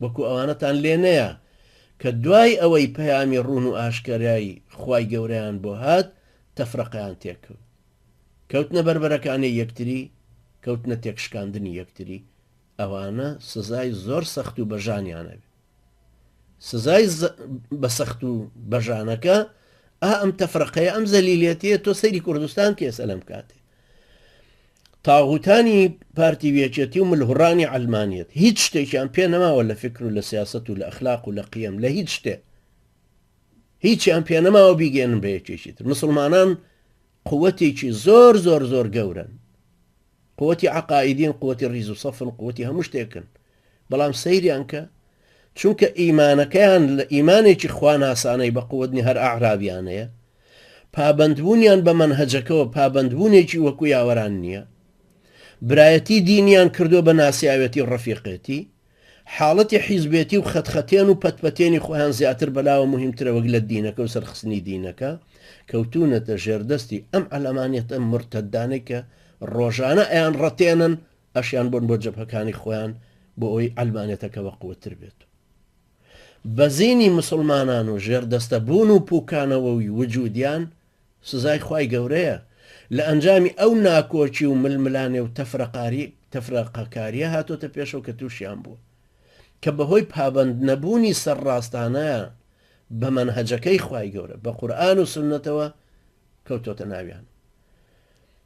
وەکو ئەوانەتان لێ نەیا کە دوای ئەوەی پەیامی ڕوون و ئاشکەرای خوای گەورەیان بۆ هات تەفرەقەیان تێکەوت کەوتنە بەربەرەکانێی یەکتری کەوتنە تێکشکاندنی یەکتری ئەوانە سزای زۆر سەخت و بەژانیان ئەبێ سزای بە سەخت و بەژانەکە ئا ئەم تەفرەقەیە ئەم زەلیلێتیە تۆ سەیری کوردستان کێسە لەم کاتێ تاغوتانی پارتی ویەکێتی و ملهوڕانی عەلمانیەت هیچ شتێکیان پێ نەماوە لە فکر و لە سیاسەت و لە ئەخلاق و لە قیەم لە هیچ شتێ هیچیان پێ نەماوە بیگەێنن بە یەکێکی تر مسلمانان قوتێکی زۆر زۆر زۆر گەورن قوتی عقائیدین قوتی ریز و سەفن قوتی هەموو شتێکن بەڵام سەیریان کە چونکە ئیمانەکەیان لە ئیمانێکی خواناسانەی بە قوت نیە هەر ئەعرابیانەیە پابەندبوونیان بە مەنهەجەکەوە پابەندبوونێکی وەکو یاوەران نییە برایەتی دینیان کردو بە ناسیاوێتی و ڕەفیقێتی حاڵەتی حیزبێتی و خەتخەتێن و پەتپەتێنی خۆیان زیاتر بەلاوە مهمترە وەک لە دینەکە و سەرخستنی دینەکە کەوتونەتە ژێردەستی ئەم ئەلەمانەتە مرتەدانەی کە ڕۆژانە ئەیان ڕەتێنن ئەشیان بۆن بۆ جەبهەکانی خۆیان بۆ ئەوەی عەلمانیەتەکە بەقوەتر بێت و بەزینی موسڵمانان و ژێردەستە بوون و پوکانەوەوی وجودیان سزای خوای گەورەیە لە ئەنجامی ئەو ناکۆکی و ململانێ و تەفرەقاری تەفرەقەکاریە هاتۆتە پێشەوە کە توشیان بووە کە بەهۆی پابەند نەبوونی سەر ڕاستانەیان بە مەنهەجەکەی خوای گەورە بە قورئان و سوننەتەوە کەوتۆتە ناویان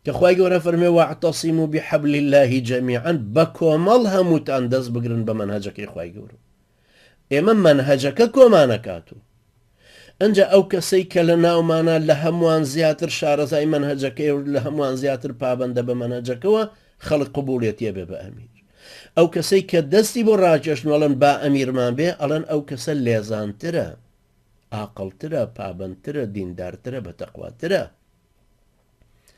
کە خوای گەورە فەرموێ واعتصموا بحبل اللە جمیعا بە کۆمەڵ هەمووتان دەست بگرن بە مەنهەجەکەی خوای گەورە ئێمە مەنهەجەکە کۆمان ئەکات و ئەنجا ئەو کەسەی کە لە ناومانە لە هەمووان زیاتر شارەزای مەنهەجەکەی و لە هەمووان زیاتر پابەندە بە مەنهەجەکەوە خەڵک قبوڵێتیە بێ بە ئەمیر ئەو کەسەی کە دەستی بۆ ڕاکێشن ئەڵەن با ئەمیرمان بێ ئەڵەن ئەو کەسە لێزانترە ئاقلترە پابندترە دیندارترە بە تەقواترە